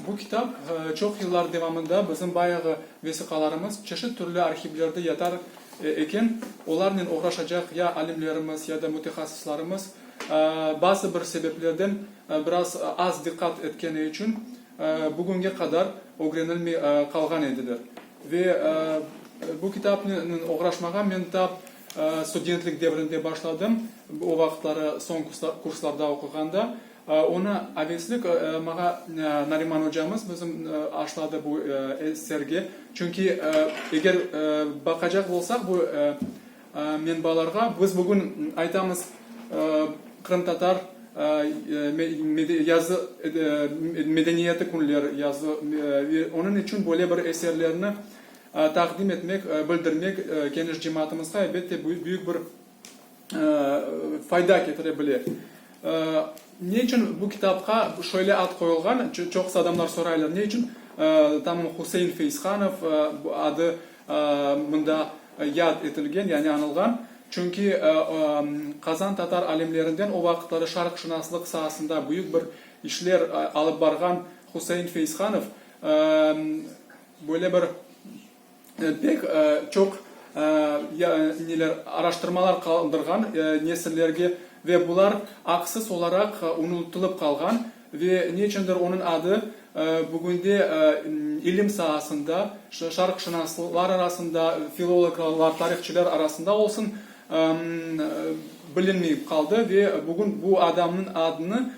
Bu kitap çoq yıllar devamında bizim bayağı vesiqalarımız çeşit türlü arhivlerde yatar eken, olarnen oğraşacaq ya alimlerimiz, ya da mütehassıslarımız bazı bir sebeplerden biraz az diqqat etkeni içün bugünge qadar ögrenilmey qalğan ediler. Ve bu kitapnen oğraşmağa men ta studentlik devrinde başladım, o vaqıtları soñ kurslarda oquğanda. Onı aveslik mağa Nariman ocamız bizim aşladı bu eserge. Çünki eger baqacaq bolsaq bu menbalarğa, biz bugün aytamız qırımtatar yazı medeniyeti künleri yazı, onıñ içün böyle bir eserlerni taqdim etmek, bildirmek geniş cemaatımızğa elbette büyük bir fayda ketire bile. Ne içün bu kitapqa şöyle ad qoyulğan, çoqusı adamlar soraylar, ne içün tam Husein Feizhanov adı mında yad etilgen, yani anılğan? Çünki Qazan tatar alimlerinden o vaqıtları şarqşınaslıq saasında büyük bir işler alıp barğan Husein Feizhanov böyle bir, pek çoq neler, araştırmalar qaldırğan nesillerge ve bular aqsız olaraq unutılıp qalğan ve ne içündir onıñ adı bugünde ilim saasında, şarqşınaslar arasında, filologlar, tarihçiler arasında olsun, bilinmeyip qaldı ve bugün bu adamnıñ adını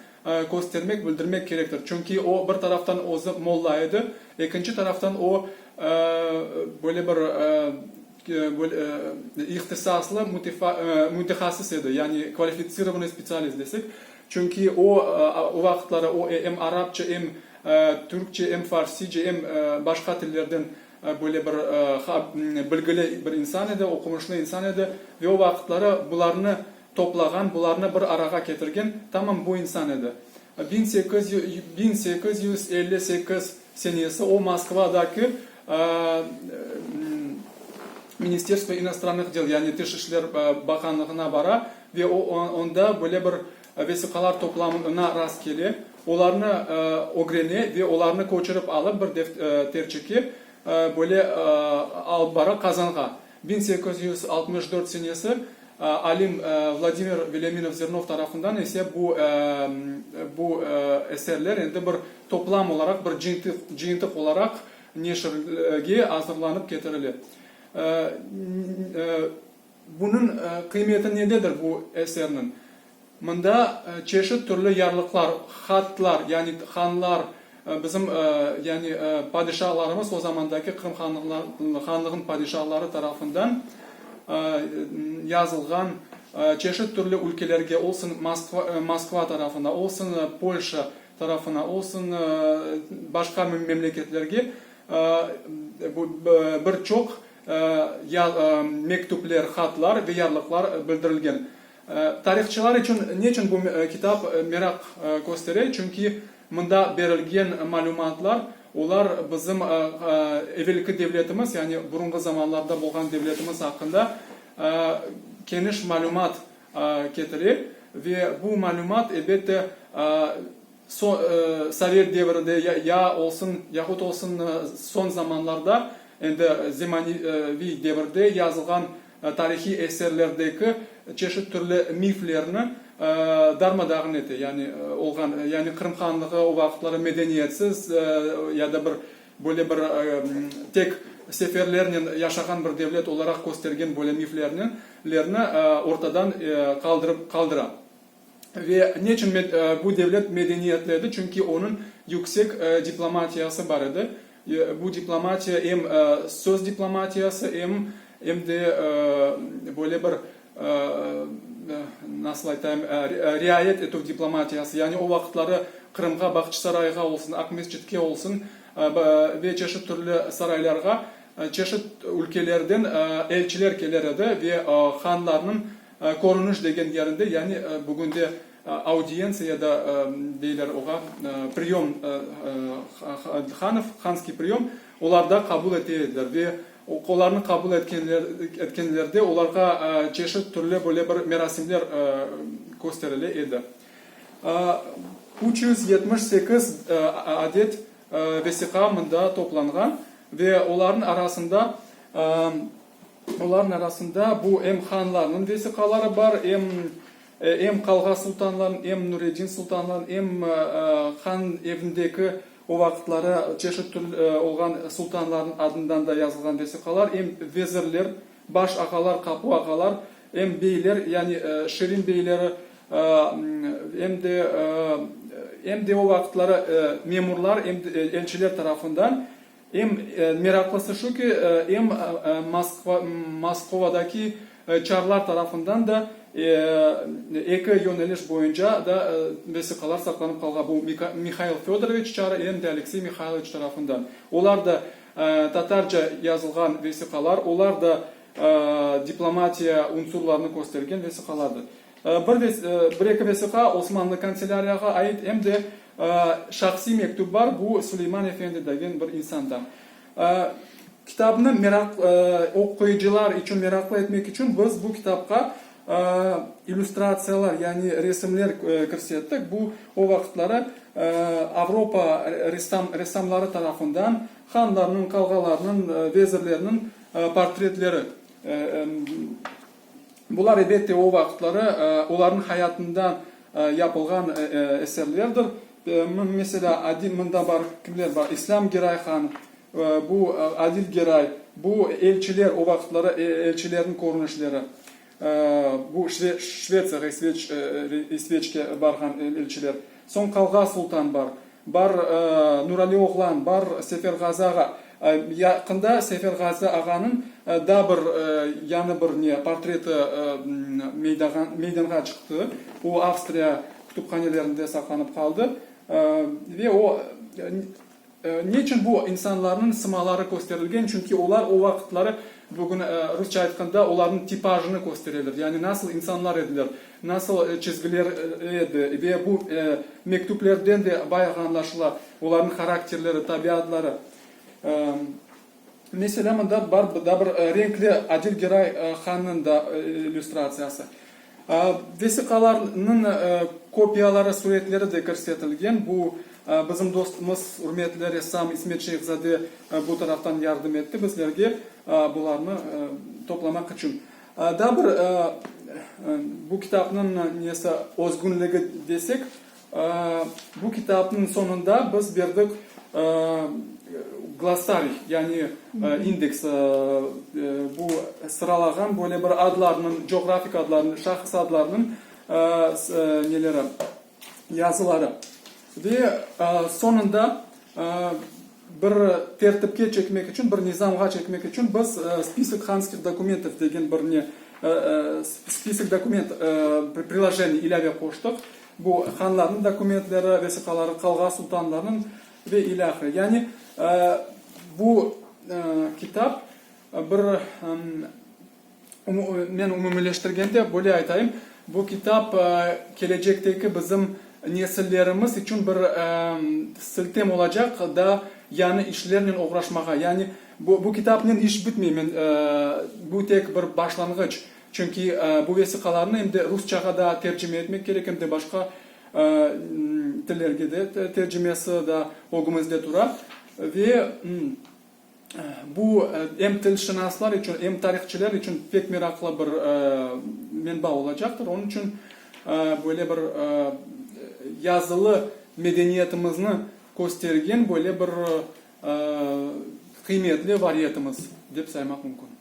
köstermek, bildirmek kerektir. Çünki o, bir taraftan özü molla edi, ekinci taraftan o, böyle bir ihtisaslı mütehasis edi, yani kvalificirovanıy spetsialist desek. Çünki o, o vaqıtları o, em arapça, em türkçe, em farsice, em başqa tillerden böyle bir bilgili bir insan edi, oqumuşlı insan edi. Ve o vaqıtları bularnı toplağan, bularnı bir arağa ketirgen tamam bu insan edi. Biñ sekiz yüz elli sekiz senesi o Moskvadaki Ministerstvo inostranıh del, yani Tış işler baqanlığına bara ve onda böyle bir vesiqalar toplamına rast kele, olarnı ögrene ve olarnı köçürip alıp bir defterçeke böyle alıp bara Qazanğa. Biñ sekiz yüz altmış dört senesi alim Vladimir Velâminov Zernov tarafından ise bu bu eserler endi bir toplam olaraq, bir cıyıntıq olaraq neşirge azırlanıp ketirile. Bunıñ qıymeti nededir bu eserniñ? Mında çeşit türlü yarlıqlar, hatlar, yani hanlar, bizim, yani padişalarımız, o zamandaki Qırım Hanlığınıñ padişaları tarafından yazılğan çeşit türlü ülkelerge, olsun Moskva tarafına, olsun Polşa tarafına, olsun başqa memleketlerge bir çoq mektüpler, hatlar ve yarlıqlar bildirilgen. Tarihçılar içün neçün bu kitap meraq köstere? Çünki mında berilgen malümatlar, olar bizim evelki devletimiz, yani burunğı zamanlarda bolğan devletimiz aqqında keniş malümat ketire. Ve bu malümat, elbette, sovet devri de ya olsun, yahut olsun soñ zamanlarda, endi zemaneviy devirde yazılğan, tarihiy eserlerdeki çeşit türlü miflerni darma-dağın ete, yani olğan, yani Qırım Hanlığı o vaqıtları medeniyetsiz ya da bir böyle bir tek seferlernen yaşağan bir devlet olaraq köstergen böyle miflerni ortadan qaldırıp qaldıra. Ve neçün bu devlet medeniyetledı? Çünki onıñ yüksek diplomatiyası bar edi. Bu diplomatiya em söz diplomatiyası, em em de böyle bir, nasıl aytayım, riayet etüv diplomatiyası. Yani o vaqıtları Qırımğa, Bağçısarayğa olsun, Aqmescitke olsun ve çeşit türlü saraylarğa çeşit ülkelerden elçiler keler edi ve hanlarnıñ Körüniş degen yerinde, yani bugünde audientsiya ya da deyler oğa, priyom, hanov, hanskiy priyom, olarda qabul ete ediler ve olarnı qabul etkenlerde olarğa çeşit türlü böyle bir merasimler kösterile edi. Üç yüz yetmiş sekiz adet vesiqa mında toplanğan ve olarnıñ arasında, Olarnıñ arasında bu em hanlarnıñ vesiqaları bar, em em qalğa sultanlarnıñ, em Nureddin sultanlarnıñ, em han evindeki o vaqıtları çeşit tür olğan sultanlarnıñ adından da yazılğan vesiqalar, em vezirler, baş ağalar, qapu ağalar, em beyler, yani Şirin beyleri, em de em de o vaqıtları memurlar, elçiler tarafından. Eñ meraqlısı şu ki, em Moskovadaki çarlar tarafından da, eki yöneliş boyunca da vesiqalar saqlanıp qalğan, bu Mihail Fedoroviç çarı, em de Aleksey Mihailoviç tarafından. Olar da tatarca yazılğan vesiqalar, olar da diplomatiya unsurlarını köstergen vesiqalardır. Bir ve bir-eki vesiqa Osmanlı kanselâriyağa ait, em de şahsiy mektüp bar, bu Suleyman efendi degen bir insandan. Kitabnı meraq, oquyıcılar içün meraqlı etmek içün biz bu kitapqa illüstratsiyalar, yani resimler kirsettik. Bu o vaqıtları Avropa ressamları tarafından hanlarnıñ, qalğalarnıñ, vezirlerniñ portretleri. Bular, ebette, o vaqıtları olarnıñ hayatında yapılğan eserlerdir. Meselâ, Adil, mında bar, kimler bar, İslâm Geray han, bu Adil Geray, bu elçiler, o vaqıtları elçilerniñ körünişleri, bu Şvetsiyağa, İsveçke barğan elçiler, soñ Qalğa Sultan bar. Bar, Nurali oğlan, bar, Seferğazı ağa. Yaqında Seferğazı ağanıñ da bir, yañı bir ne, portreti meydanğa çıqtı. O, Avstriya kütüphanelerinde saqlanıp qaldı. Ve o, ne içün bu insanlarnıñ sımaları kösterilgen? Çünki olar o vaqıtları, bugün rusça aytqanda, olarnıñ tipajını köstereler, yani nasıl insanlar ediler. Nasıl çizgiler edi ve bu mektüplerden de bayağı añlaşıla olarnıñ harakterleri, tabiatları. Meselâ, mında bar da bir renkli Adil Geray hannıñ da illüstratsiyası. Vesiqalarnıñ kopiyaları, suretleri de kirsetilgen. Bu bizim dostumız, ürmetli ressam İsmet Şeyhzade bu taraftan yardım etti bizlerge bularnı toplamaq içün. Daa bir bu kitapnıñ nesi, özgünligi desek, bu kitapnıñ soñunda biz berdik glossariy, yani indeks, bu sıralağan böyle bir adlarnıñ, coğrafik adlarnıñ, şahıs adlarnıñ neleri, yazıları ve soñunda bir tertipke çekmek içün, bir nizamğa çekmek içün biz Spisk hanskih dokumentov degen bir ne, spisk dokument prilojenniy, ilâve qoştıq. Bu hanlarnıñ dokumentleri, vesiqaları, qalğa sultanlarınıñ ve ilâhre. Yani bu kitap bir Men umumileştirgende böyle aytayım, bu kitap kelecekteki bizim nesillerimiz içün bir siltem olacaq da yañı işlernen oğraşmağa. Yani bu kitapnen iş bitmey, men, bu tek bir başlanğıç. Çünki bu vesiqalarnı em de rusçağa da tercime etmek kerek, em de başqa tillerge de tercimesi da ögümizde tura. Ve Bu em tilşınaslar içün, em tarihçiler içün pek meraqlı bir menba olacaqtır. Onıñ içün böyle bir yazılı medeniyetimizni köstergen böyle bir qıymetli variyetimiz dep saymaq mümkün.